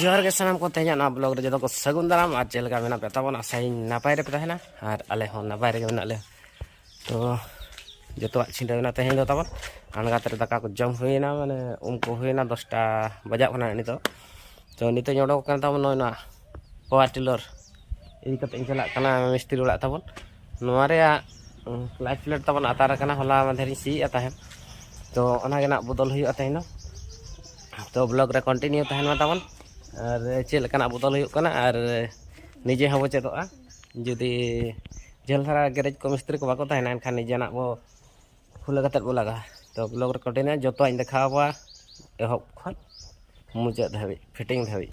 ᱡᱚᱦᱟᱨ ᱜᱮ ᱥᱟᱱᱟᱢ ᱠᱚ ᱛᱮᱦᱮᱧᱟᱜ ᱱᱚᱣᱟ ᱵᱞᱚᱜ ᱨᱮ ᱡᱚᱛᱚ ᱠᱚ ᱥᱟᱹᱜᱩᱱ ᱫᱟᱨᱟᱢ ᱟᱨ ᱪᱮᱫ ᱞᱮᱠᱟ ᱢᱮᱱᱟᱜ ᱯᱮ ᱛᱟᱵᱚᱱ ᱟᱥᱟᱭᱤᱧ ᱱᱟᱯᱟᱭ ᱨᱮᱯᱮ ᱛᱟᱦᱮᱱᱟ ᱟᱨ ᱟᱞᱮ ᱦᱚᱸ ᱱᱟᱯᱟᱭ ᱨᱮᱜᱮ ᱢᱮᱱᱟᱜ ᱞᱮᱭᱟ ᱛᱚ ᱡᱚᱛᱚᱣᱟᱜ ᱪᱷᱤᱸᱰᱟᱹ ᱢᱮᱱᱟᱜ ᱛᱮᱦᱮᱧ ᱫᱚ ᱛᱟᱵᱚᱱ ᱟᱬᱜᱟᱛ ᱨᱮ ᱫᱟᱠᱟ ᱠᱚ ᱡᱚᱢ ᱦᱩᱭᱱᱟ ᱢᱟᱱᱮ ᱩᱢ ᱠᱚ ᱦᱩᱭᱱᱟ ᱫᱚᱥᱴᱟ ᱵᱟᱡᱟᱜ ᱠᱟᱱᱟ ᱱᱤᱛᱚᱜ ᱛᱚ ᱱᱤᱛᱚᱜ ᱤᱧ ᱚᱰᱚᱠ ᱠᱟᱱ ᱛᱟᱵᱚᱱ ᱱᱚᱜᱼᱚᱭ ᱱᱚᱣᱟ ᱯᱟᱣᱟᱨ ᱴᱤᱞᱚᱨ ᱤᱫᱤ ᱠᱟᱛᱮ ᱤᱧ ᱪᱟᱞᱟᱜ ᱠᱟᱱᱟ ᱢᱤᱥᱛᱨᱤ ᱚᱲᱟᱜ ᱛᱟᱵᱚᱱ ᱱᱚᱣᱟ ᱨᱮᱭᱟᱜ ᱞᱟᱭᱤᱴ ᱯᱞᱮᱴ ᱛᱟᱵᱚᱱ ᱟᱛᱟᱨ ᱟᱠᱟᱱᱟ ᱦᱚᱞᱟ ᱢᱟᱫᱷᱮᱨ ᱤᱧ ᱥᱤᱭᱮᱫᱼᱟ ᱛᱟᱦᱮᱸᱫ ᱛᱚ ᱚᱱᱟᱜᱮ ᱱᱟᱜ ᱵᱚᱫᱚᱞ ᱦᱩᱭᱩᱜᱼᱟ ᱛᱮᱦᱮᱧ ᱫᱚ ᱛᱚ ᱵᱞᱚᱜ ᱨᱮ ᱠᱚᱱᱴᱤᱱᱤᱭᱩ ᱛᱟᱦᱮᱱ ᱢᱟ ᱛᱟᱵᱚᱱ ᱟᱨ ᱪᱮᱫ ᱞᱮᱠᱟᱱᱟᱜ ᱵᱚᱫᱚᱞ ᱦᱩᱭᱩᱜ ᱠᱟᱱᱟ ᱟᱨ ᱱᱤᱡᱮ ᱦᱚᱸᱵᱚ ᱪᱮᱫᱚᱜᱼᱟ ᱡᱩᱫᱤ ᱡᱷᱟᱹᱞ ᱫᱷᱟᱨᱟ ᱜᱮᱨᱮᱡᱽ ᱠᱚ ᱢᱤᱥᱛᱨᱤ ᱠᱚ ᱵᱟᱠᱚ ᱛᱟᱦᱮᱱᱟ ᱮᱱᱠᱷᱟᱱ ᱱᱤᱡᱮᱱᱟᱜ ᱵᱚ ᱠᱷᱩᱞᱟᱹ ᱠᱟᱛᱮᱫ ᱵᱚ ᱞᱟᱜᱟᱜᱼᱟ ᱛᱚ ᱵᱞᱚᱜ ᱨᱮ ᱠᱚᱱᱴᱤᱱᱤᱭᱩ ᱡᱚᱛᱚᱣᱟᱜ ᱤᱧ ᱫᱮᱠᱷᱟᱣ ᱟᱵᱚᱱᱟ ᱮᱦᱚᱵ ᱠᱷᱚᱱ ᱢᱩᱪᱟᱹᱫ ᱫᱷᱟᱹᱵᱤᱡ ᱯᱷᱤᱴᱤᱝ ᱫᱷᱟᱹᱵᱤᱡ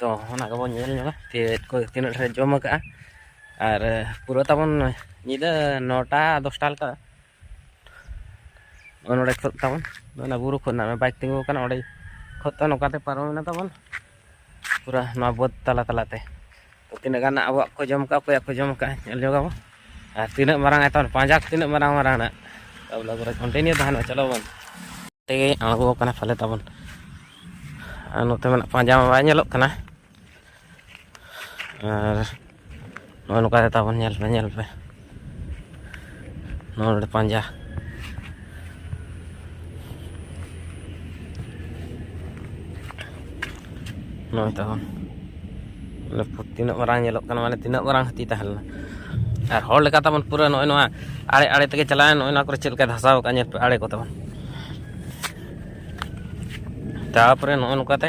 ᱛᱚ ᱚᱱᱟ ᱜᱮᱵᱚᱱ ᱧᱮᱞ ᱧᱚᱜᱟ ᱪᱮᱫ ᱠᱚ ᱛᱤᱱᱟᱹᱜ ᱰᱷᱮᱨ ᱡᱚᱢ ᱟᱠᱟᱫᱼᱟ ᱟᱨ ᱯᱩᱨᱟᱹ ᱛᱟᱵᱚᱱ ᱧᱤᱫᱟᱹ ᱱᱚᱴᱟ ᱫᱚᱥᱴᱟ ᱞᱮᱠᱟ ᱱᱚᱰᱮ ᱠᱷᱚᱫ ᱛᱟᱵᱚᱱ ᱚᱱᱟ ᱵᱩᱨᱩ ᱠᱷᱚᱱ ᱱᱟᱜ ᱵᱟᱭᱤᱠ ᱛᱤᱸᱜᱩ ᱟᱠᱟᱱᱟ ᱚᱸᱰᱮ ᱠᱷᱚᱫ ᱛᱟᱵᱚᱱ ᱱᱚᱝᱠᱟᱛᱮ ᱯᱟᱨᱚᱢᱮᱱᱟ ᱛᱟᱵᱚᱱ ᱯᱩᱨᱟᱹ ᱱᱚᱣᱟ ᱵᱟᱹᱫᱽ ᱛᱟᱞᱟ ᱛᱟᱞᱟᱛᱮ ᱛᱤᱱᱟᱹᱜ ᱜᱟᱱ ᱟᱵᱚᱣᱟᱜ ᱠᱚ ᱡᱚᱢ ᱠᱟᱜᱼᱟ ᱚᱠᱚᱭᱟᱜ ᱠᱚ ᱡᱚᱢ ᱠᱟᱜᱼᱟ ᱧᱮᱞ ᱡᱚᱜ ᱟᱵᱚ ᱟᱨ ᱛᱤᱱᱟᱹᱜ ᱢᱟᱨᱟᱝ ᱟᱭᱛᱚᱱ ᱯᱟᱸᱡᱟ ᱛᱤᱱᱟᱹᱜ ᱢᱟᱨᱟᱝ ᱢᱟᱨᱟᱝ ᱱᱟᱜ ᱛᱟᱵᱚᱞᱮ ᱯᱩᱨᱟᱹ ᱠᱚᱱᱴᱤᱱᱤᱭᱩ ᱛᱟᱦᱮᱱᱟ ᱪᱚᱞᱚ ᱵᱚᱱ ᱛᱮᱜᱮ ᱟᱬᱜᱚ ᱟᱠᱟᱱᱟ ᱯᱟᱞᱮ ᱛᱟᱵᱚᱱ ᱟᱨ ᱱᱚᱛᱮ ᱢᱮᱱᱟᱜ ᱯᱟᱸᱡᱟ ᱢᱟ ᱵᱟᱭ ᱧᱮᱞᱚᱜ ᱠᱟᱱᱟ ᱟᱨ ᱱᱚᱜᱼᱚ ᱱᱚᱝᱠᱟ ᱛᱟᱵᱚᱱ ᱧᱮᱞ ᱯᱮ ᱧᱮᱞ ᱯᱮ ᱱᱚᱣᱟ ᱱᱚᱰᱮ ᱯᱟᱸᱡᱟ ᱱᱚᱜᱼᱚᱭ ᱛᱟᱵᱚᱱ ᱢᱟᱱᱮ ᱛᱤᱱᱟᱹᱜ ᱢᱟᱨᱟᱝ ᱧᱮᱞᱚᱜ ᱠᱟᱱᱟ ᱢᱟᱱᱮ ᱛᱤᱱᱟᱹᱜ ᱢᱟᱨᱟᱝ ᱦᱟᱹᱛᱤ ᱛᱟᱦᱮᱸ ᱞᱮᱱᱟ ᱟᱨ ᱦᱚᱲ ᱞᱮᱠᱟ ᱛᱟᱵᱚᱱ ᱯᱩᱨᱟᱹ ᱱᱚᱜᱼᱚᱭ ᱱᱚᱣᱟ ᱟᱲᱮ ᱟᱲᱮ ᱛᱮᱜᱮ ᱪᱟᱞᱟᱣᱮᱱ ᱱᱚᱜᱼᱚᱭ ᱱᱚᱣᱟ ᱠᱚᱨᱮ ᱪᱮᱫ ᱞᱮᱠᱟᱭ ᱫᱷᱟᱥᱟᱣ ᱟᱠᱟᱫ ᱧᱮᱞ ᱯᱮ ᱟᱲᱮ ᱠᱚ ᱛᱟᱵᱚᱱ ᱛᱟᱨᱯᱚᱨᱮ ᱱᱚᱜᱼᱚᱭ ᱱᱚᱝᱠᱟᱛᱮ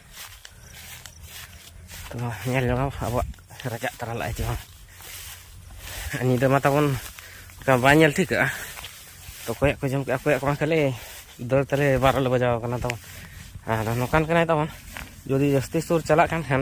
ᱛᱚ ᱧᱮᱞ ᱡᱚᱝ ᱟᱵᱚᱣᱟᱜ ᱨᱟᱡᱟᱜ ᱛᱟᱨᱟ ᱞᱟᱜᱼᱟ ᱡᱮᱢᱚᱱ ᱧᱤᱫᱟᱹ ᱢᱟ ᱛᱟᱵᱚᱱ ᱚᱱᱠᱟ ᱵᱟᱭ ᱧᱮᱞ ᱴᱷᱤᱠᱟᱹᱜᱼᱟ ᱛᱚ ᱚᱠᱚᱭᱟᱜ ᱠᱚ ᱡᱚᱢ ᱠᱮᱫᱼᱟ ᱚᱠᱚᱭᱟᱜ ᱠᱚ ᱵᱟᱝ ᱠᱷᱟᱹᱞᱤ ᱫᱟᱹᱲ ᱛᱟᱞᱮ ᱵᱟᱨᱚ ᱞᱮ ᱵᱟᱡᱟᱣ ᱠᱟᱱᱟ ᱛᱟᱵᱚᱱ ᱟᱨ ᱱᱚᱝᱠᱟᱱ ᱠᱟᱱᱟᱭ ᱛᱟᱵᱚᱱ ᱡᱩᱫᱤ ᱡᱟᱹᱥᱛᱤ ᱥᱩᱨ ᱪᱟᱞᱟᱜ ᱠᱟᱱ ᱠᱷᱟᱱ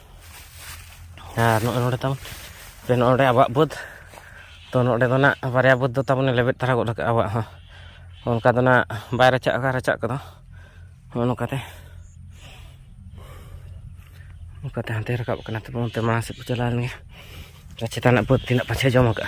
ᱟᱨ ᱱᱚᱜᱼᱚᱭ ᱱᱚᱰᱮ ᱛᱟᱵᱚᱱ ᱥᱮ ᱱᱚᱰᱮ ᱟᱵᱚᱣᱟᱜ ᱵᱟᱹᱫᱽ ᱛᱚ ᱱᱚᱰᱮ ᱫᱚ ᱱᱟᱜ ᱵᱟᱨᱭᱟ ᱵᱟᱹᱫᱽ ᱫᱚ ᱛᱟᱵᱚᱱᱮ ᱞᱮᱵᱮᱫ ᱛᱟᱨᱟ ᱜᱚᱫ ᱠᱟᱜᱼᱟ ᱟᱵᱚᱣᱟᱜ ᱦᱚᱸ ᱚᱱᱠᱟ ᱫᱚ ᱱᱟᱜ ᱵᱟᱭ ᱨᱟᱪᱟᱜ ᱟᱠᱟᱫ ᱨᱟᱪᱟᱜ ᱠᱚᱫᱚ ᱱᱚᱜᱼᱚ ᱱᱚᱝᱠᱟᱛᱮ ᱚᱱᱠᱟᱛᱮ ᱦᱟᱱᱛᱮ ᱨᱟᱠᱟᱵ ᱠᱟᱱᱟ ᱛᱚᱵᱮ ᱚᱱᱛᱮ ᱢᱟᱲᱟᱝ ᱥᱮᱫ ᱠᱚ ᱪᱟᱞᱟᱣ ᱞᱮᱱᱜᱮ ᱪᱮᱛᱟᱱ ᱨᱮᱱᱟᱜ ᱵᱟᱹᱫᱽ ᱛᱤᱱᱟᱹᱜ ᱯᱟᱪᱷᱮ ᱡᱚᱢ ᱠᱟᱜᱼᱟ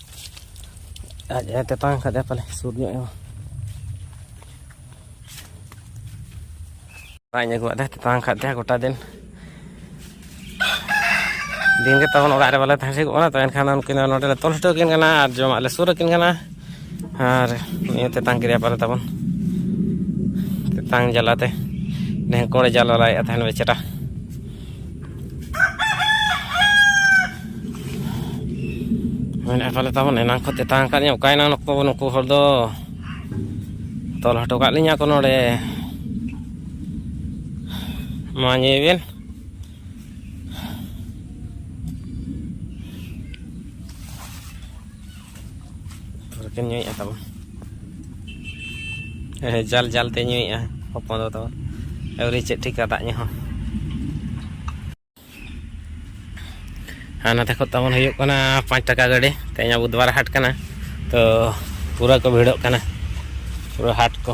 ᱟᱡ ᱮ ᱛᱮᱛᱟᱝ ᱠᱟᱫᱮᱭᱟ ᱯᱟᱞᱮ ᱥᱩᱨ ᱧᱚᱜ ᱮᱢᱟ ᱟᱡ ᱟᱹᱜᱩᱣᱟᱜ ᱫᱮ ᱛᱮᱛᱟᱝ ᱠᱟᱫ ᱫᱮᱭᱟ ᱜᱚᱴᱟ ᱫᱤᱱ ᱫᱤᱱ ᱜᱮ ᱛᱟᱵᱚᱱ ᱚᱲᱟᱜ ᱨᱮ ᱵᱟᱞᱮ ᱛᱟᱦᱮᱸ ᱴᱷᱤᱠᱚᱜ ᱠᱟᱱᱟ ᱛᱚ ᱮᱱᱠᱷᱟᱱ ᱩᱱᱠᱤᱱ ᱫᱚ ᱱᱚᱰᱮ ᱞᱮ ᱛᱚᱞ ᱦᱚᱴᱚ ᱟᱹᱠᱤᱱ ᱠᱟᱱᱟ ᱟᱨ ᱡᱚᱢᱟᱜ ᱞᱮ ᱥᱩᱨ ᱟᱹᱠᱤᱱ ᱠᱟᱱᱟ ᱟᱨ ᱱᱤᱭᱟᱹ ᱛᱮᱛᱟᱝ ᱠᱮᱫᱮᱭᱟ ᱯᱟᱞᱮ ᱛᱟᱵᱚᱱ ᱛᱮᱛᱟᱝ ᱡᱟᱞᱟᱛᱮ ᱰᱷᱮᱝᱠᱚᱲᱮ ᱡᱟᱞᱟᱞᱟᱭᱮᱫᱼᱟ ᱛᱟᱦᱮᱱ ᱵᱮᱪᱟᱨᱟ ᱢᱮᱱᱮᱫ ᱯᱟᱞᱮ ᱛᱟᱵᱚᱱ ᱮᱱᱟᱝ ᱠᱚ ᱛᱮᱛᱟᱝ ᱟᱠᱟᱫ ᱞᱤᱧᱟ ᱚᱠᱟᱭᱮᱱᱟ ᱱᱩᱠᱩ ᱱᱩᱠᱩ ᱦᱚᱲ ᱫᱚ ᱛᱚᱞ ᱦᱚᱴᱚ ᱠᱟᱜ ᱞᱤᱧᱟ ᱠᱚ ᱱᱚᱰᱮ ᱢᱟ ᱧᱮᱞ ᱵᱤᱱ ᱨᱮᱠᱮᱢ ᱧᱩᱭᱮᱫᱼᱟ ᱛᱟᱵᱚ ᱦᱮᱸ ᱡᱟᱞ ᱡᱟᱞ ᱛᱮ ᱧᱩᱭᱮᱫᱼᱟ ᱦᱚᱯᱚᱱ ᱫᱚ ᱛᱟᱵᱚ ᱟᱹᱣᱨᱤ ᱪᱮᱫ ᱴᱷᱤᱠᱟ ᱫᱟᱜ ᱧᱩ ᱦᱚᱸ ᱟᱨ ᱱᱚᱛᱮ ᱠᱷᱚᱱ ᱛᱟᱵᱚᱱ ᱦᱩᱭᱩᱜ ᱠᱟᱱᱟ ᱯᱟᱸᱪ ᱴᱟᱠᱟ ᱜᱟᱹᱰᱤ ᱛᱮᱦᱮᱧ ᱵᱩᱫᱷᱵᱟᱨ ᱦᱟᱴ ᱠᱟᱱᱟ ᱛᱚ ᱯᱩᱨᱟᱹ ᱠᱚ ᱵᱷᱤᱲᱚᱜ ᱠᱟᱱᱟ ᱯᱩᱨᱟᱹ ᱦᱟᱴ ᱠᱚ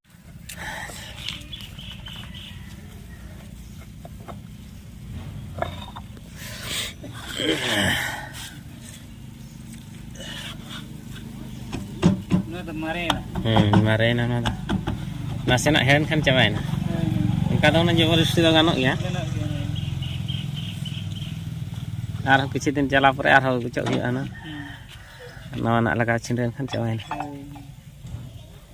ᱢᱟᱨᱮᱭᱮᱱᱟ ᱚᱱᱟ ᱫᱚ ᱱᱟᱥᱮᱱᱟᱜ ᱦᱮᱲᱮᱱ ᱠᱷᱟᱱ ᱪᱟᱵᱟᱭᱮᱱᱟ ᱚᱱᱠᱟ ᱫᱚ ᱚᱱᱟ ᱡᱚᱵᱚᱨᱡᱚᱥᱛᱤ ᱫᱚ ᱜᱟᱱᱚᱜ ᱜᱮᱭᱟ ᱟᱨᱦᱚᱸ ᱠᱤᱪᱷᱩ ᱫᱤᱱ ᱪᱟᱞᱟᱣ ᱯᱚᱨᱮ ᱟᱨᱦᱚᱸ ᱜᱩᱪᱚᱜ ᱦᱩᱭᱩᱜᱼᱟ ᱚᱱᱟ ᱱᱟᱣᱟᱱᱟᱜ ᱞᱟᱜᱟᱣ ᱪᱷᱤᱸᱰᱟᱹᱣ ᱮᱱᱠᱷᱟᱱ ᱪᱟᱵᱟᱭᱮᱱᱟ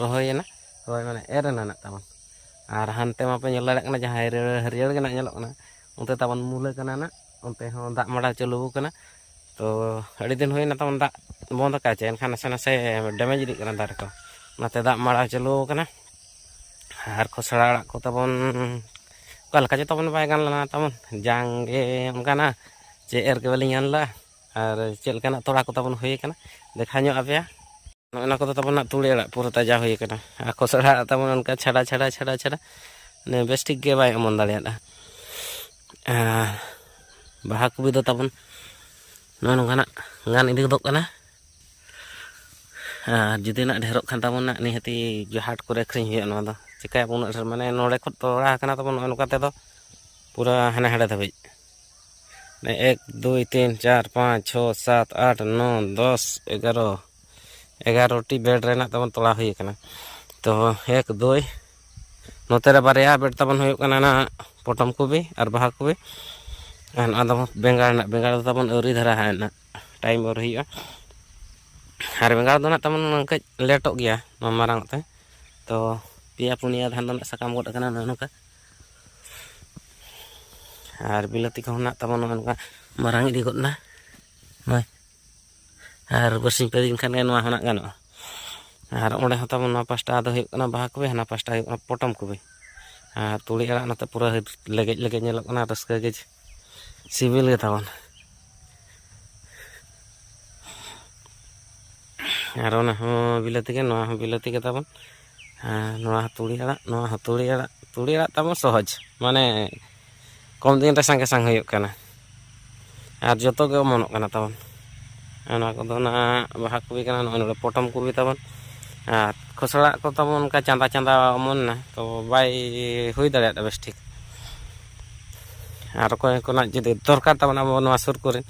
ᱨᱚᱦᱚᱭᱮᱱᱟ ᱨᱚᱦᱚᱭ ᱢᱟᱱᱮ ᱮᱨ ᱮᱱᱟ ᱱᱟᱜ ᱛᱟᱵᱚᱱ ᱟᱨ ᱦᱟᱱᱛᱮ ᱢᱟᱯᱮ ᱧᱮᱞ ᱫᱟᱲᱮᱭᱟᱜ ᱠᱟᱱᱟ ᱡᱟᱦᱟᱸ ᱦᱟᱹᱨᱭᱟᱹᱲ ᱦᱟᱹᱨᱭᱟᱹᱲ ᱜᱮ ᱱᱟᱜ ᱧᱮᱞᱚᱜ ᱠᱟᱱᱟ ᱚᱱᱛᱮ ᱛᱟᱵᱚᱱ ᱢᱩᱞᱟᱹ ᱠᱟᱱᱟ ᱱᱟᱜ ᱚᱱᱛᱮ ᱦᱚᱸ ᱫᱟᱜ ᱢᱟᱰᱟ ᱪᱟᱹᱞᱩ ᱟᱠᱟᱱᱟ ᱛᱚ ᱟᱹᱰᱤ ᱫᱤᱱ ᱦᱩᱭᱱᱟ ᱛᱟᱵᱚᱱ ᱫᱟᱜ ᱵᱚᱱᱫ ᱟᱠᱟᱫ ᱪᱮ ᱮᱱᱠᱷᱟᱱ ᱱᱟᱥᱮ ᱱᱟᱥᱮ ᱰᱮᱢᱮᱡᱽ ᱤᱫᱤᱜ ᱠᱟᱱᱟ ᱫᱟᱨᱮ ᱠᱚ ᱚᱱᱟᱛᱮ ᱫᱟᱜ ᱢᱟᱲᱟ ᱪᱟᱹᱞᱩ ᱟᱠᱟᱱᱟ ᱟᱨ ᱠᱷᱚᱥᱲᱟ ᱟᱲᱟᱜ ᱠᱚ ᱛᱟᱵᱚᱱ ᱚᱠᱟ ᱞᱮᱠᱟ ᱪᱚ ᱛᱟᱵᱚᱱ ᱵᱟᱭ ᱜᱟᱱ ᱞᱮᱱᱟ ᱛᱟᱵᱚᱱ ᱡᱟᱝ ᱜᱮ ᱚᱱᱠᱟᱱᱟ ᱪᱮ ᱮᱨ ᱜᱮ ᱵᱟᱹᱞᱤᱧ ᱜᱟᱱ ᱞᱮᱫᱟ ᱟᱨ ᱪᱮᱫ ᱞᱮᱠᱟᱱᱟᱜ ᱛᱚᱲᱟ ᱠᱚ ᱛᱟᱵᱚᱱ ᱦᱩᱭ ᱟᱠᱟᱱᱟ ᱫᱮᱠᱷᱟᱣ ᱧᱚᱜ ᱟᱯᱮᱭᱟ ᱱᱚᱜᱼᱚ ᱱᱚᱣᱟ ᱠᱚᱫᱚ ᱛᱟᱵᱚᱱ ᱦᱟᱸᱜ ᱛᱩᱲᱤ ᱟᱲᱟᱜ ᱯᱩᱨᱟᱹ ᱛᱟᱡᱟ ᱦᱩᱭ ᱟᱠᱟᱱᱟ ᱟᱨ ᱠᱚᱥᱲᱟ ᱟᱲᱟᱜ ᱛᱟᱵᱚᱱ ᱚᱱᱠᱟ ᱪᱷᱟᱰᱟ ᱪᱷᱟᱰᱟ ᱪᱷᱟᱰᱟ ᱪᱷᱟᱰᱟ ᱢᱟᱱᱮ ᱵᱮᱥ ᱴᱷᱤᱠ ᱜᱮ ᱵᱟᱭ ᱚᱢᱚᱱ ᱫᱟᱲᱮᱭᱟᱫᱟ ᱟᱨ ᱵᱟᱦᱟ ᱠᱚᱯᱤ ᱫᱚ ᱛᱟᱵᱚᱱ ᱱᱚᱜᱼᱚ ᱱᱚᱝᱠᱟᱱᱟᱜ ᱜᱟᱱ ᱤᱫᱤ ᱜᱚᱫᱚᱜ ᱠᱟᱱᱟ ᱟᱨ ᱡᱩᱫᱤ ᱱᱟᱜ ᱰᱷᱮᱨᱚᱜ ᱠᱷᱟᱱ ᱛᱟᱵᱚᱱ ᱱᱟᱜ ᱱᱤᱦᱟᱹᱛᱤ ᱦᱟᱴ ᱠᱚᱨᱮ ᱟᱹᱠᱷᱨᱤᱧ ᱦᱩᱭᱩᱜᱼᱟ ᱱᱚᱣᱟ ᱫᱚ ᱪᱤᱠᱟᱹᱭᱟᱵᱚᱱ ᱩᱱᱟᱹᱜ ᱰᱷᱮᱨ ᱢᱟᱱᱮ ᱱᱚᱰᱮ ᱠᱷᱚᱱ ᱛᱚᱲᱟ ᱟᱠᱟᱱᱟ ᱛᱟᱵᱚᱱ ᱱᱚᱜᱼᱚ ᱱᱚᱝᱠᱟ ᱛᱮᱫᱚ ᱯᱩᱨᱟᱹ ᱦᱟᱱᱮ ᱦᱟᱸᱰᱮ ᱫᱷᱟᱹᱵᱤᱡ ᱮᱠ ᱫᱩᱭ ᱛᱤᱱ ᱪᱟᱨ ᱯᱟᱸᱪ ᱪᱷᱚ ᱥᱟᱛ ᱟᱴ ᱱᱚ ᱫᱚᱥ ᱮᱜᱟᱨᱚ ᱮᱜᱟᱨᱚᱴᱤ ᱵᱮᱰ ᱨᱮᱱᱟᱜ ᱛᱟᱵᱚᱱ ᱛᱚᱲᱟ ᱦᱩᱭ ᱟᱠᱟᱱᱟ ᱛᱚ ᱮᱠ ᱫᱩᱭ ᱱᱚᱛᱮ ᱨᱮ ᱵᱟᱨᱭᱟ ᱵᱮᱰ ᱛᱟᱵᱚᱱ ᱦᱩᱭᱩᱜ ᱠᱟᱱᱟ ᱱᱟᱜ ᱯᱚᱴᱚᱢ ᱠᱚᱵᱤ ᱟᱨ ᱵᱟᱦᱟ ᱠᱚᱵᱤ ᱟᱨ ᱱᱚᱣᱟ ᱫᱚ ᱵᱮᱸᱜᱟᱲ ᱨᱮᱱᱟᱜ ᱵᱮᱸᱜᱟᱲ ᱫᱚ ᱛᱟᱵᱚᱱ ᱟᱹᱣᱨᱤ ᱫᱷᱟᱨᱟ ᱦᱟᱸᱜ ᱴᱟᱭᱤᱢ ᱟᱹᱣᱨᱤ ᱦᱩᱭᱩᱜᱼᱟ ᱟᱨ ᱵᱮᱸᱜᱟᱲ ᱫᱚ ᱱᱟᱜ ᱛᱟᱵᱚᱱ ᱠᱟᱹᱡ ᱞᱮᱴᱚᱜ ᱜᱮᱭᱟ ᱱᱚᱣᱟ ᱢᱟᱨᱟᱝ ᱛᱮ ᱛᱚ ᱯᱮᱭᱟ ᱯᱩᱱᱭᱟ ᱫᱷᱟᱱ ᱫᱚ ᱱᱟᱜ ᱥᱟᱠᱟᱢ ᱜᱚᱫ ᱟᱠᱟᱱᱟ ᱱᱚᱜᱼᱚ ᱱᱚᱝᱠᱟ ᱟᱨ ᱵᱤᱞᱟᱹᱛᱤ ᱠᱚᱦᱚᱸ ᱢᱮᱱᱟᱜ ᱛᱟᱵᱚᱱᱟ ᱱᱚᱝᱠᱟ ᱢᱟᱨᱟᱝ ᱤᱫᱤ ᱜᱚᱫ ᱮᱱᱟ ᱱᱚᱜᱼᱚᱭ ᱟᱨ ᱵᱟᱨᱥᱤᱧ ᱯᱮ ᱫᱤᱱ ᱠᱷᱟᱱ ᱜᱮ ᱱᱚᱣᱟ ᱦᱚᱸ ᱜᱟᱱᱚᱜᱼᱟ ᱟᱨ ᱚᱸᱰᱮ ᱦᱚᱸ ᱛᱟᱵᱚᱱ ᱱᱚᱣᱟ ᱯᱟᱥᱴᱟ ᱫᱚ ᱦᱩᱭᱩᱜ ᱠᱟᱱᱟ ᱵᱟᱦᱟ ᱠᱚᱵᱮ ᱦᱟᱱᱟ ᱯᱟᱥᱴᱟ ᱦᱩᱭᱩᱜ ᱠᱟᱱᱟ ᱯᱚᱴᱚᱢ ᱠᱚᱵᱮ ᱟᱨ ᱛᱩᱲᱤ ᱟᱲᱟᱜ ᱱᱚᱛᱮ ᱯᱩᱨᱟᱹ ᱞᱮᱜᱮᱡ ᱞᱮᱜᱮᱡ ᱧᱮᱞᱚᱜ ᱠᱟᱱᱟ ᱨᱟᱹᱥᱠᱟᱹ ᱜᱮ ᱥᱤᱵᱤᱞ ᱜᱮ ᱛᱟᱵᱚᱱ ᱟᱨ ᱚᱱᱟ ᱦᱚᱸ ᱵᱤᱞᱟᱹᱛᱤ ᱜᱮ ᱱᱚᱣᱟ ᱦᱚᱸ ᱵᱤᱞᱟᱹᱛᱤ ᱜᱮ ᱛᱟᱵᱚᱱ ᱱᱚᱣᱟ ᱦᱚᱸ ᱛᱩᱲᱤ ᱟᱲᱟᱜ ᱱᱚᱣᱟ ᱦᱚᱸ ᱛᱩᱲᱤ ᱟᱲᱟᱜ ᱛᱩᱲᱤ ᱟᱲᱟᱜ ᱛᱟᱵᱚᱱ ᱥᱚᱦᱚᱡᱽ ᱢᱟᱱᱮ ᱠᱚᱢ ᱫᱤᱱ ᱨᱮ ᱥᱟᱸᱜᱮ ᱥᱟᱝ ᱦᱩᱭᱩᱜ ᱠᱟᱱᱟ ᱟᱨ ᱡᱚᱛᱚ ᱜᱮ ᱚᱢᱚᱱᱚᱜ ᱠᱟᱱᱟ ᱛᱟᱵᱚᱱ ᱚᱱᱟ ᱠᱚᱫᱚ ᱚᱱᱟ ᱵᱟᱦᱟ ᱠᱚᱯᱤ ᱠᱟᱱᱟ ᱱᱚᱜᱼᱚᱭ ᱱᱚᱰᱮ ᱯᱚᱴᱚᱢ ᱠᱚᱯᱤ ᱛᱟᱵᱚᱱ ᱟᱨ ᱠᱷᱚᱥᱲᱟ ᱠᱚ ᱛᱟᱵᱚᱱ ᱚᱱᱠᱟ ᱪᱟᱸᱫᱟ ᱪᱟᱸᱫᱟ ᱚᱢᱚᱱ ᱮᱱᱟ ᱛᱚ ᱵᱟᱭ ᱦᱩᱭ ᱫᱟᱲᱮᱭᱟᱫᱟ ᱵᱮᱥ ᱴᱷᱤᱠ ᱟᱨ ᱚᱠᱚᱭ ᱠᱚᱱᱟᱜ ᱡᱩᱫᱤ ᱫᱚᱨᱠᱟᱨ ᱛᱟᱵᱚᱱ ᱟᱵᱚ ᱱᱚᱣᱟ ᱥᱩᱨ ᱠᱚᱨᱮ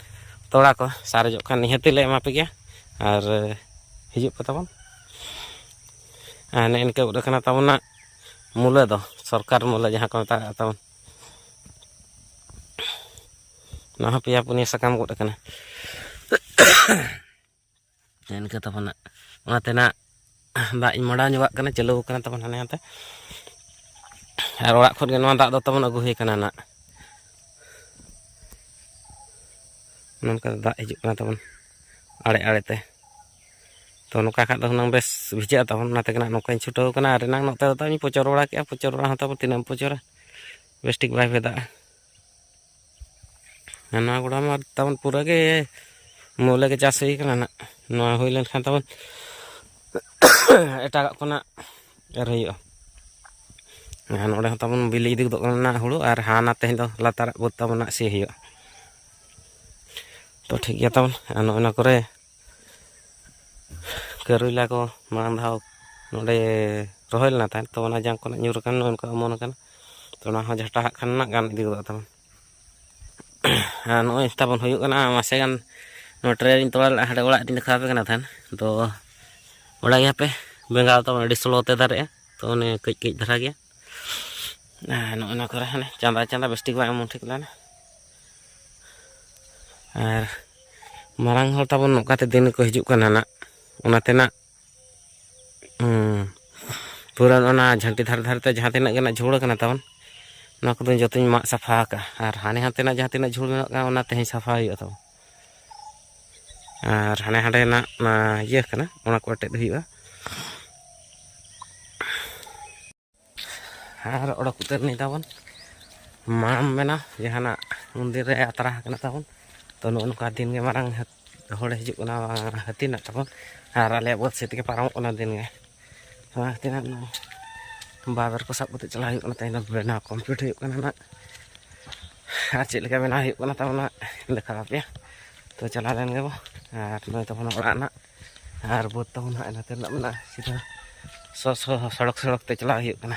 ᱛᱚᱲᱟ ᱠᱚ ᱥᱟᱨᱮᱡᱚᱜ ᱠᱷᱟᱱ ᱱᱤᱦᱟᱹᱛᱤ ᱞᱮ ᱮᱢᱟ ᱯᱮ ᱜᱮᱭᱟ ᱟᱨ ᱦᱤᱡᱩᱜ ᱯᱮ ᱛᱟᱵᱚᱱ ᱟᱨ ᱱᱮᱜᱼᱮ ᱱᱤᱝᱠᱟᱹ ᱩᱰᱟᱹᱜ ᱠᱟᱱᱟ ᱛᱟᱵᱚᱱᱟ ᱢᱩᱞᱟᱹ ᱫᱚ ᱥᱚᱨᱠᱟᱨ ᱢᱩᱞᱟᱹ ᱡᱟᱦᱟᱸ ᱠᱚ ᱢᱮᱛᱟᱜᱼᱟ ᱛᱟᱵᱚᱱ ᱱᱚᱣᱟ ᱦᱚᱸ ᱯᱮᱭᱟ ᱯᱩᱱᱭᱟᱹ ᱥᱟᱠᱟᱢ ᱜᱚᱫ ᱟᱠᱟᱱᱟ ᱤᱱᱠᱟᱹ ᱛᱟᱵᱚᱱᱟ ᱚᱱᱟ ᱛᱮᱱᱟᱜ ᱫᱟᱜ ᱤᱧ ᱢᱟᱰᱟᱣ ᱧᱚᱜᱟᱜ ᱠᱟᱱᱟ ᱪᱟᱹᱞᱩ ᱟᱠᱟᱱᱟ ᱛᱟᱵᱚᱱ ᱦᱟᱱᱮ ᱦᱟᱱᱛᱮ ᱟᱨ ᱚᱲᱟᱜ ᱠᱷᱚᱱ ᱜᱮ ᱱᱚᱣᱟ ᱫᱟᱜ ᱫᱚ ᱛᱟᱵᱚᱱ ᱟᱹᱜᱩ ᱦᱩᱭ ᱠᱟᱱᱟ ᱱᱟᱜ ᱱᱚᱝᱠᱟ ᱫᱟᱜ ᱦᱤᱡᱩᱜ ᱠᱟᱱᱟ ᱛᱟᱵᱚᱱ ᱟᱲᱮ ᱟᱲᱮ ᱛᱮ ᱛᱚ ᱱᱚᱝᱠᱟ ᱠᱷᱟᱡ ᱫᱚ ᱦᱩᱱᱟᱹᱝ ᱵᱮᱥ ᱵᱷᱤᱡᱟᱹᱜᱼᱟ ᱛᱟᱵᱚᱱ ᱚᱱᱟ ᱛᱮᱜᱮ ᱱᱟᱜ ᱱᱚᱝᱠᱟᱧ ᱪᱷᱩᱴᱟᱹᱣ ᱠᱟᱱᱟ ᱟᱨ ᱮᱱᱟᱝ ᱱᱚᱛᱮ ᱫᱚ ᱛᱟᱵᱚᱱ ᱯᱚᱪᱚᱨ ᱵᱟᱲᱟ ᱠᱮᱫᱼᱟ ᱯᱚᱪᱚᱨ ᱵᱟᱲᱟ ᱦᱚᱸ ᱛᱟᱵᱚᱱ ᱛᱤᱱᱟᱹᱜ ᱮᱢ ᱯᱚᱪᱚᱨᱟ ᱵᱮᱥ ᱴᱷᱤᱠ ᱵᱟᱭ ᱵᱷᱮᱫᱟᱜᱼᱟ ᱱᱚᱣᱟ ᱜᱚᱰᱟ ᱢᱟ ᱛᱟᱵᱚᱱ ᱯᱩᱨᱟᱹ ᱜᱮ ᱢᱩᱞᱟᱹ ᱜᱮ ᱪᱟᱥ ᱦᱩᱭ ᱠᱟᱱᱟ ᱱᱟᱜ ᱱᱚᱣᱟ ᱦᱩᱭ ᱞᱮᱱᱠᱷᱟᱱ ᱛᱟᱵᱚᱱ ᱮᱴᱟᱜᱟᱜ ᱠᱚ ᱱᱟᱜ ᱮᱨ ᱦᱩᱭᱩᱜᱼᱟ ᱟᱨ ᱱᱚᱰᱮ ᱦᱚᱸ ᱛᱟᱵᱚᱱ ᱵᱤᱞᱤ ᱤᱫᱤ ᱜᱚᱫᱚᱜ ᱠᱟᱱᱟ ᱦᱩᱲᱩ ᱟᱨ ᱦᱟᱱᱟ ᱛᱮᱦᱮᱧ ᱫᱚ ᱞᱟᱛᱟᱨᱟᱜ ᱵᱟᱹᱫᱽ ᱛᱟᱵᱚᱱ ᱱᱟᱜ ᱥᱤ ᱦᱩᱭᱩᱜᱼᱟ ᱛᱚ ᱴᱷᱤᱠ ᱜᱮᱭᱟ ᱛᱟᱵᱚᱱ ᱟᱨ ᱱᱚᱜᱼᱚ ᱱᱟ ᱠᱚᱨᱮ ᱠᱟᱹᱨᱩᱭᱞᱟ ᱠᱚ ᱢᱟᱲᱟᱝ ᱫᱷᱟᱣ ᱱᱚᱰᱮ ᱨᱚᱦᱚᱭ ᱞᱮᱱᱟ ᱛᱟᱦᱮᱸᱫ ᱛᱚ ᱚᱱᱟ ᱡᱟᱝ ᱠᱚ ᱧᱩᱨ ᱟᱠᱟᱱ ᱱᱚᱜᱼᱚ ᱱᱚᱝᱠᱟ ᱚᱢᱚᱱ ᱟᱠᱟᱱᱟ ᱛᱚ ᱚᱱᱟ ᱦᱚᱸ ᱡᱷᱟᱴᱟ ᱦᱟᱸᱜ ᱠᱷᱟᱱ ᱜᱟᱱ ᱤᱫᱤ ᱜᱚᱫᱚᱜ ᱛᱟᱢᱟ ᱟᱨ ᱱᱚᱜᱼᱚᱭ ᱛᱟᱵᱚᱱ ᱦᱩᱭᱩᱜ ᱠᱟᱱᱟ ᱢᱟᱥᱮ ᱜᱟᱱ ᱱᱚᱣᱟ ᱴᱨᱮᱱ ᱛᱚᱲᱟ ᱞᱮᱫᱟ ᱦᱟᱸᱰᱮ ᱚᱲᱟᱜ ᱨᱤᱧ ᱫᱮᱠᱷᱟᱣ ᱟᱯᱮ ᱠᱟᱱᱟ ᱛᱟᱦᱮᱸᱫ ᱛᱚ ᱚᱲᱟᱜ ᱜᱮᱭᱟᱯᱮ ᱵᱮᱸᱜᱟᱲ ᱛᱟᱵᱚᱱ ᱟᱹᱰᱤ ᱥᱞᱳ ᱛᱮ ᱫᱟᱨᱮᱜᱼᱟ ᱛᱚ ᱚᱱᱮ ᱠᱟᱹᱡ ᱠᱟᱹᱡ ᱫᱷᱟᱨᱟ ᱜᱮᱭᱟ ᱟᱨ ᱱᱚᱜᱼᱚ ᱱᱚᱣᱟ ᱠᱚᱨᱮ ᱦᱟᱱᱮ ᱪᱟᱸᱫᱟ ᱪᱟᱸᱫᱟ ᱵᱮᱥ ᱴᱷᱤᱠ ᱵᱟᱝ ᱮᱢᱚᱱ ᱴᱷᱤᱠ ᱞᱮᱱᱟ ᱟᱨ ᱢᱟᱨᱟᱝ ᱦᱚᱲ ᱛᱟᱵᱚᱱ ᱱᱚᱝᱠᱟᱛᱮ ᱫᱤᱱ ᱠᱚ ᱦᱤᱡᱩᱜ ᱠᱟᱱᱟ ᱱᱟᱜ ᱚᱱᱟᱛᱮ ᱱᱟᱜ ᱯᱩᱨᱟᱹ ᱚᱱᱟ ᱡᱷᱟᱹᱱᱴᱤ ᱫᱷᱟᱨᱮ ᱫᱷᱟᱨᱮᱛᱮ ᱡᱟᱦᱟᱸ ᱛᱤᱱᱟᱹᱜ ᱜᱮ ᱱᱟᱜ ᱡᱷᱩᱲ ᱠᱟᱱᱟ ᱛᱟᱵᱚᱱ ᱱᱚᱣᱟ ᱠᱚᱫᱚ ᱡᱚᱛᱚᱧ ᱢᱟᱜ ᱥᱟᱯᱷᱟ ᱟᱠᱟᱜᱼᱟ ᱟᱨ ᱦᱟᱱᱮ ᱦᱟᱱᱛᱮᱱᱟᱜ ᱡᱟᱦᱟᱸ ᱛᱤᱱᱟᱹᱜ ᱡᱷᱩᱲ ᱢᱮᱱᱟᱜᱼᱟ ᱚᱱᱟ ᱛᱮᱦᱮᱧ ᱥᱟᱯᱷᱟ ᱦᱩᱭᱩᱜᱼᱟ ᱛᱟᱵᱚᱱ ᱟᱨ ᱦᱟᱸᱰᱮ ᱦᱟᱸᱰᱮᱱᱟᱜ ᱚᱱᱟ ᱤᱭᱟᱹ ᱠᱟᱱᱟ ᱚᱱᱟ ᱠᱚ ᱮᱴᱮᱫ ᱦᱩᱭᱩᱜᱼᱟ ᱟᱨ ᱚᱰᱚᱠ ᱩᱛᱟᱹᱨ ᱱᱤ ᱛᱟᱵᱚᱱ ᱢᱟᱲᱟᱝ ᱢᱮᱱᱟ ᱡᱟᱦᱟᱱᱟᱜ ᱢᱚᱱᱫᱤᱨ ᱨᱮ ᱟᱛᱨᱟ ᱟᱠᱟᱱᱟ ᱛᱟᱵᱚᱱ ᱛᱚ ᱱᱚᱜᱼᱚ ᱱᱚᱝᱠᱟ ᱫᱤᱱ ᱜᱮ ᱢᱟᱨᱟᱝ ᱦᱚᱲ ᱦᱤᱡᱩᱜ ᱠᱟᱱᱟ ᱦᱟᱹᱛᱤ ᱢᱮᱱᱟᱜ ᱛᱟᱵᱚᱱ ᱟᱨ ᱟᱞᱮᱭᱟᱜ ᱵᱟᱹᱫᱽ ᱥᱮᱫ ᱛᱮᱜᱮ ᱯᱟᱨᱚᱢᱚᱜ ᱠᱟᱱᱟ ᱫᱤᱱ ᱜᱮ ᱚᱱᱟ ᱠᱷᱟᱹᱛᱤᱨ ᱦᱟᱸᱜ ᱱᱚᱣᱟ ᱵᱟᱵᱮᱨ ᱠᱚ ᱥᱟᱵ ᱠᱟᱛᱮᱫ ᱪᱟᱞᱟᱜ ᱦᱩᱭᱩᱜ ᱠᱟᱱᱟ ᱛᱮᱦᱮᱧ ᱫᱚ ᱵᱮᱱᱟᱣ ᱠᱚᱢᱯᱞᱤᱴ ᱦᱩᱭᱩᱜ ᱠᱟᱱᱟ ᱱᱟᱜ ᱟᱨ ᱪᱮᱫ ᱞᱮᱠᱟ ᱵᱮᱱᱟᱣ ᱦᱩᱭᱩᱜ ᱠᱟᱱᱟ ᱛᱟᱵᱚᱱᱟ ᱫᱮᱠᱷᱟᱣ ᱟᱯᱮᱭᱟ ᱛᱚ ᱪᱟᱞᱟᱣ ᱞᱮᱱ ᱜᱮᱵᱚ ᱟᱨ ᱱᱚᱜᱼᱚᱭ ᱛᱟᱵᱚᱱᱟ ᱚᱲᱟᱜ ᱱᱟᱜ ᱟᱨ ᱵᱟᱹᱫᱽ ᱛᱟᱵᱚᱱ ᱦᱟᱸᱜ ᱱᱚᱛᱮ ᱨᱮᱱᱟᱜ ᱢᱮᱱᱟᱜᱼᱟ ᱥᱤᱫᱷᱟᱹ ᱥᱚ ᱥᱚ ᱥᱚᱲᱚᱠ ᱥᱚᱲᱚᱠ ᱛᱮ ᱪᱟᱞᱟᱣ ᱦᱩᱭᱩᱜ ᱠᱟᱱᱟ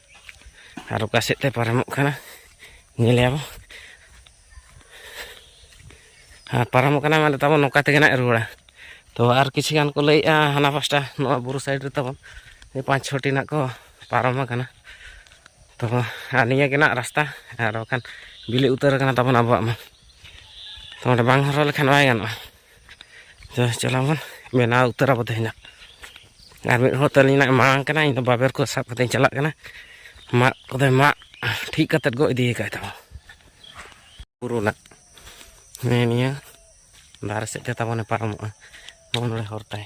ᱟᱨ ᱚᱠᱟ ᱥᱮᱫ ᱛᱮ ᱯᱟᱨᱚᱢᱚᱜ ᱠᱟᱱᱟ ᱧᱮᱞᱮᱭᱟ ᱵᱚ ᱟᱨ ᱯᱟᱨᱚᱢᱚᱜ ᱠᱟᱱᱟ ᱢᱟᱱᱮ ᱛᱟᱵᱚᱱ ᱱᱚᱝᱠᱟ ᱛᱮᱜᱮ ᱱᱟᱜ ᱨᱩᱣᱟᱹᱲᱟ ᱛᱚ ᱟᱨ ᱠᱤᱪᱷᱩ ᱜᱟᱱ ᱠᱚ ᱞᱟᱹᱭᱮᱜᱼᱟ ᱦᱟᱱᱟ ᱯᱟᱥᱴᱟ ᱱᱚᱣᱟ ᱵᱩᱨᱩ ᱥᱟᱭᱤᱰ ᱨᱮ ᱛᱟᱵᱚᱱ ᱯᱟᱸᱪ ᱪᱷᱚᱴᱤ ᱱᱟᱜ ᱠᱚ ᱯᱟᱨᱚᱢ ᱟᱠᱟᱱᱟ ᱛᱚ ᱟᱨ ᱱᱤᱭᱟᱹ ᱜᱮ ᱱᱟᱜ ᱨᱟᱥᱛᱟ ᱟᱨ ᱵᱟᱠᱷᱟᱱ ᱵᱤᱞᱤ ᱩᱛᱟᱹᱨ ᱟᱠᱟᱱᱟ ᱛᱟᱵᱚᱱ ᱟᱵᱚᱣᱟᱜ ᱢᱟ ᱛᱚ ᱚᱸᱰᱮ ᱵᱟᱝ ᱦᱚᱨᱦᱚ ᱞᱮᱠᱷᱟᱱ ᱵᱟᱭ ᱜᱟᱱᱚᱜᱼᱟ ᱪᱟᱞᱟᱣ ᱵᱚᱱ ᱵᱮᱱᱟᱣ ᱩᱛᱟᱹᱨᱟ ᱵᱚ ᱛᱮᱦᱮᱧᱟᱜ ᱟᱨ ᱢᱤᱫ ᱦᱚᱲ ᱛᱟᱹᱞᱤᱧ ᱱᱟᱜ ᱢᱟᱲᱟᱝ ᱠᱟᱱᱟ ᱤᱧ ᱫᱚ ᱵᱟᱵᱮᱨ ᱠᱚ ᱥᱟᱵ ᱠᱟᱛᱮᱧ ᱪᱟᱞᱟᱜ ᱠᱟᱱᱟ ᱢᱟᱜ ᱠᱚᱫᱚᱭ ᱢᱟᱜ ᱴᱷᱤᱠ ᱠᱟᱛᱮᱫ ᱜᱚ ᱤᱫᱤ ᱟᱠᱟᱫ ᱛᱟᱵᱚᱱ ᱵᱩᱨᱩ ᱱᱟᱜ ᱱᱤᱭᱟᱹ ᱫᱟᱨᱮ ᱥᱮᱫ ᱛᱮ ᱛᱟᱵᱚᱱᱮ ᱯᱟᱨᱚᱢᱚᱜᱼᱟ ᱱᱚᱜᱼᱚ ᱱᱚᱰᱮ ᱦᱚᱨ ᱛᱟᱭ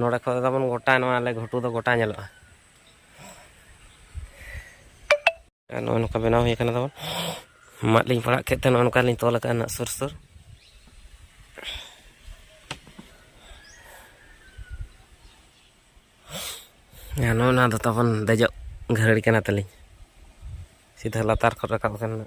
ᱱᱚᱰᱮ ᱠᱷᱚᱱ ᱛᱟᱵᱚᱱ ᱜᱚᱴᱟ ᱱᱚᱣᱟ ᱟᱞᱮ ᱜᱷᱩᱴᱩ ᱫᱚ ᱜᱚᱴᱟ ᱧᱮᱞᱚᱜᱼᱟ ᱱᱚᱜᱼᱚ ᱱᱚᱝᱠᱟ ᱵᱮᱱᱟᱣ ᱦᱩᱭ ᱟᱠᱟᱱᱟ ᱛᱟᱵᱚᱱ ᱢᱟᱫ ᱞᱤᱧ ᱯᱟᱲᱟᱜ ᱠᱮᱫ ᱛᱮ ᱱᱚᱜᱼᱚ ᱱᱚᱝᱠᱟ ᱞᱤᱧ ᱛᱚᱞ ᱟᱠᱟᱫᱼᱟ ᱱᱟᱜ ᱥᱩᱨ ᱥᱩᱨ ᱱᱚᱜᱼᱚ ᱱᱚᱣᱟ ᱫᱚ ᱛᱟᱵᱚᱱ ᱫᱮᱡᱚᱜ ᱜᱷᱟᱹᱨᱲᱤ ᱠᱟᱱᱟ ᱛᱟᱹᱞᱤᱧ ᱥᱤᱫᱷᱟᱹ ᱞᱟᱛᱟᱨ ᱠᱷᱚᱱ ᱨᱟᱠᱟᱵ ᱟᱠᱟᱱᱟ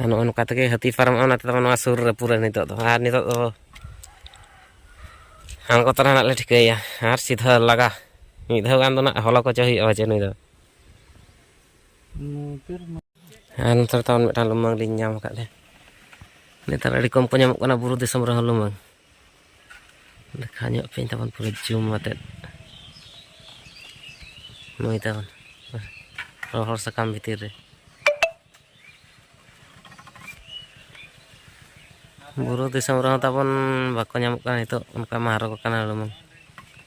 ᱟᱨ ᱱᱚᱜᱼᱚ ᱱᱚᱝᱠᱟ ᱛᱮᱜᱮ ᱦᱟᱹᱛᱤ ᱯᱟᱨᱚᱢᱚᱜᱼᱟ ᱚᱱᱟ ᱛᱮᱫᱚ ᱱᱚᱣᱟ ᱥᱩᱨ ᱨᱮ ᱯᱩᱨᱟᱹ ᱱᱤᱛᱚᱜ ᱫᱚ ᱟᱨ ᱱᱤᱛᱚᱜ ᱫᱚ ᱟᱬᱜᱚ ᱛᱚᱨᱟ ᱱᱟᱜ ᱞᱮ ᱴᱷᱤᱠᱟᱹᱭᱟ ᱟᱨ ᱥᱤᱫᱷᱟᱹ ᱞᱟᱜᱟ ᱢᱤᱫ ᱫᱷᱟᱣ ᱜᱟᱱ ᱫᱚ ᱱᱟᱜ ᱦᱚᱞᱚ ᱠᱚᱪᱚ ᱦᱩᱭᱩᱜᱼᱟ ᱡᱮ ᱱᱩᱭ ᱫᱚ ᱟᱨ ᱱᱚᱛᱮ ᱨᱮ ᱛᱟᱵᱚᱱ ᱢᱤᱫᱴᱟᱝ ᱞᱩᱢᱟᱹᱝ ᱞᱤᱧ ᱧᱟᱢ ᱟᱠᱟᱫ ᱞᱮ ᱱᱮᱛᱟᱨ ᱟᱹᱰᱤ ᱠᱚᱢ ᱠᱚ ᱧᱟᱢᱚᱜ ᱠᱟᱱᱟ ᱵᱩᱨᱩ ᱫᱤᱥᱚᱢ ᱨᱮᱦᱚᱸ ᱞᱩᱢᱟᱹᱝ ᱞᱮᱠᱷᱟ ᱧᱚᱜ ᱯᱮᱧ ᱛᱟᱵᱚᱱ ᱯᱩᱨᱟᱹ ᱡᱩᱢ ᱟᱛᱮᱫ ᱱᱩᱭ ᱛᱟᱵᱚᱱ ᱨᱚᱦᱚᱲ ᱥᱟᱠᱟᱢ ᱵᱷᱤᱛᱤᱨ ᱨᱮ ᱵᱩᱨᱩ ᱫᱤᱥᱚᱢ ᱨᱮᱦᱚᱸ ᱛᱟᱵᱚᱱ ᱵᱟᱠᱚ ᱧᱟᱢᱚᱜ ᱠᱟᱱᱟ ᱱᱤᱛᱚᱜ ᱚᱱᱠᱟ ᱢᱟ ᱦᱚᱨᱚᱜ ᱠᱟᱱᱟ ᱞᱩᱢᱟᱹᱝ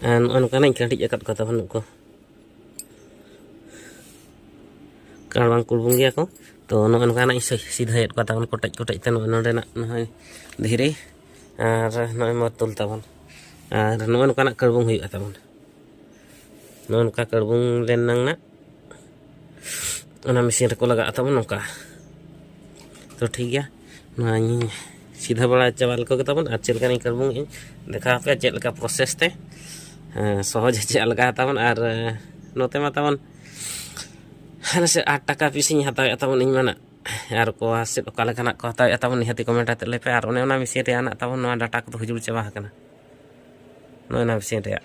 ᱟᱨ ᱱᱚᱜᱼᱚ ᱱᱚᱝᱠᱟᱱᱟᱜ ᱠᱟᱹᱴᱤᱡ ᱟᱠᱟᱫ ᱠᱚᱣᱟ ᱵᱟᱹᱱᱩᱜ ᱠᱚ ᱠᱟᱨ ᱵᱟᱝ ᱠᱩᱲᱵᱩᱝ ᱜᱮᱭᱟ ᱠᱚ ᱛᱚ ᱱᱚᱜᱼᱚ ᱱᱚᱝᱠᱟᱱᱟᱜ ᱤᱧ ᱥᱤᱫᱷᱟᱹᱭᱮᱫ ᱠᱚᱣᱟ ᱛᱟᱵᱚᱱ ᱠᱚᱴᱮᱡ ᱠᱚᱴᱮᱡ ᱛᱮ ᱱᱚᱜᱼᱚᱭ ᱱᱚᱰᱮᱱᱟᱜ ᱱᱚᱜᱼᱚᱭ ᱫᱷᱤᱨᱤ ᱟᱨ ᱱᱚᱜᱼᱚᱭ ᱢᱟᱛᱩᱞ ᱛᱟᱵᱚᱱ ᱟᱨ ᱱᱚᱜᱼᱚ ᱱᱚᱝᱠᱟᱱᱟᱜ ᱠᱟᱹᱲᱵᱩᱝ ᱦᱩᱭᱩᱜᱼᱟ ᱛᱟᱵᱚᱱ ᱱᱚᱜᱼᱚ ᱱᱚᱝᱠᱟ ᱠᱟᱹᱲᱵᱩᱝ ᱨᱮᱱᱟᱝ ᱚᱱᱟ ᱢᱮᱥᱤᱱ ᱨᱮᱠᱚ ᱞᱟᱜᱟᱜᱼᱟ ᱛᱟᱵᱚᱱ ᱱᱚᱝᱠᱟ ᱛᱚ ᱴᱷᱤᱠ ᱜᱮᱭᱟ ᱱᱚᱣᱟᱧ ᱥᱤᱫᱷᱟ ᱵᱟᱲᱟ ᱪᱟᱵᱟ ᱞᱮᱠᱚ ᱜᱮ ᱛᱟᱵᱚᱱ ᱟᱨ ᱪᱮᱫ ᱞᱮᱠᱟᱱᱤᱧ ᱠᱟᱹᱲᱵᱩᱝ ᱤᱧ ᱫᱮᱠᱷᱟᱣ ᱟᱯᱮᱭᱟ ᱪᱮᱫ ᱞᱮᱠᱟ ᱯᱨᱚᱥᱮᱥ ᱛᱮ ᱥᱚᱦᱚᱡᱽ ᱪᱮᱫ ᱞᱮᱠᱟ ᱛᱟᱵᱚᱱ ᱟᱨ ᱱᱚᱛᱮ ᱢᱟ ᱛᱟᱵᱚᱱ ᱦᱟᱱᱮ ᱥᱮ ᱟᱴ ᱴᱟᱠᱟ ᱯᱤᱥᱤᱧ ᱦᱟᱛᱟᱣᱮᱫ ᱛᱟᱵᱚᱱ ᱤᱧ ᱢᱮᱱᱟ ᱟᱨ ᱠᱚ ᱥᱮᱫ ᱚᱠᱟ ᱞᱮᱠᱟᱱᱟᱜ ᱠᱚ ᱦᱟᱛᱟᱣᱮᱫ ᱛᱟᱵᱚᱱ ᱱᱤᱦᱟᱹᱛᱤ ᱠᱚᱢᱮᱱᱴ ᱟᱛᱮᱫ ᱞᱟᱹᱭ ᱯᱮ ᱟᱨ ᱚᱱᱮ ᱚᱱᱟ ᱢᱮᱥᱤᱱ ᱨᱮᱭᱟᱜ ᱛᱟᱵᱚᱱ ᱱᱚᱣᱟ ᱰᱟᱴᱟ ᱠᱚᱫᱚ ᱦᱩᱡᱩᱲ ᱪᱟᱵᱟ ᱟᱠᱟᱱᱟ ᱱᱚᱜᱼᱚᱭ ᱚᱱᱟ ᱢᱮᱥᱤᱱ ᱨᱮᱭᱟᱜ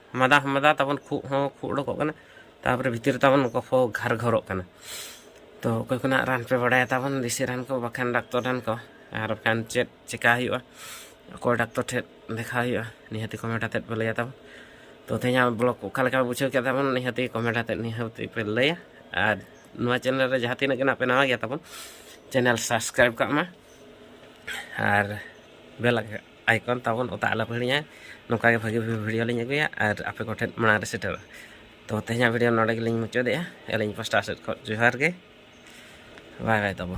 ᱢᱟᱫᱟ ᱦᱚᱸ ᱢᱟᱫᱟ ᱛᱟᱵᱚᱱ ᱠᱷᱩᱜ ᱦᱚᱸ ᱠᱷᱩᱜ ᱚᱰᱚᱠᱚᱜ ᱠᱟᱱᱟ ᱛᱟᱯᱚᱨᱮ ᱵᱷᱤᱛᱤᱨ ᱛᱟᱵᱚᱱ ᱜᱚᱯᱷᱚ ᱜᱷᱟᱨ ᱜᱷᱚᱨᱚᱜ ᱠᱟᱱᱟ ᱛᱚ ᱚᱠᱚᱭ ᱠᱚᱱᱟᱜ ᱨᱟᱱ ᱯᱮ ᱵᱟᱲᱟᱭᱟ ᱛᱟᱵᱚᱱ ᱫᱮᱥᱤ ᱨᱟᱱ ᱠᱚ ᱵᱟᱠᱷᱟᱱ ᱰᱟᱠᱛᱚᱨ ᱨᱟᱱ ᱠᱚ ᱟᱨ ᱵᱟᱠᱷᱟᱱ ᱪᱮᱫ ᱪᱮᱠᱟ ᱦᱩᱭᱩᱜᱼᱟ ᱚᱠᱚᱭ ᱰᱟᱠᱛᱚᱨ ᱴᱷᱮᱱ ᱫᱮᱠᱷᱟᱣ ᱦᱩᱭᱩᱜᱼᱟ ᱱᱤᱦᱟᱹᱛᱤ ᱠᱚᱢᱮᱱᱴ ᱟᱛᱮᱫ ᱯᱮ ᱞᱟᱹᱭᱟ ᱛᱟᱵᱚᱱ ᱛᱚ ᱛᱮᱦᱮᱧᱟᱜ ᱵᱞᱚᱜ ᱚᱠᱟ ᱞᱮᱠᱟ ᱵᱩᱡᱷᱟᱹᱣ ᱠᱮᱫ ᱛᱟᱵᱚᱱ ᱱᱤᱦᱟᱹᱛᱤ ᱠᱚᱢᱮᱱᱴ ᱟᱛᱮᱫ ᱱᱤᱦᱟᱹᱛᱤ ᱯᱮ ᱞᱟᱹᱭᱟ ᱟᱨ ᱱᱚᱣᱟ ᱪᱮᱱᱮᱞ ᱨᱮ ᱡᱟᱦᱟᱸ ᱛᱤᱱᱟᱹᱜ ᱜᱮ ᱱᱟᱜ ᱯᱮ ᱱᱟᱣᱟ ᱜᱮᱭᱟ ᱛᱟᱵᱚᱱ ᱪᱮᱱᱮᱞ ᱥᱟᱵᱥᱠᱨᱟᱭᱤᱵᱽ ᱠᱟᱜ ᱢᱟ ᱟᱨ ᱵᱮᱞ ᱟᱭᱠᱚᱱ ᱛᱟᱵᱚᱱ ᱚᱛᱟ ᱟᱞᱚᱯᱮ ᱦᱤᱲᱤᱧᱟ ᱱᱚᱝᱠᱟ ᱜᱮ ᱵᱷᱟᱹᱜᱤ ᱵᱷᱟᱹᱜᱤ ᱵᱷᱤᱰᱤᱭᱳ ᱞᱤᱧ ᱟᱹᱜᱩᱭᱟ ᱟᱨ ᱟᱯᱮ ᱠᱚᱴᱷᱮᱱ ᱢᱟᱲᱟᱝ ᱨᱮ ᱥᱮᱴᱮᱨᱚᱜᱼᱟ ᱛᱚ ᱛᱮᱦᱮᱧᱟᱜ ᱵᱷᱤᱰᱤᱭᱳ ᱱᱚᱰᱮ ᱜᱮᱞᱤᱧ ᱢᱩᱪᱟᱹᱫᱮᱜᱼᱟ ᱟᱹᱞᱤᱧ ᱯᱟᱥᱴᱟ ᱥᱮᱫ ᱠᱷᱚᱱ ᱡᱚᱦᱟᱨ ᱜᱮ ᱵᱟᱭ ᱵᱟᱭ ᱛᱟᱵᱚ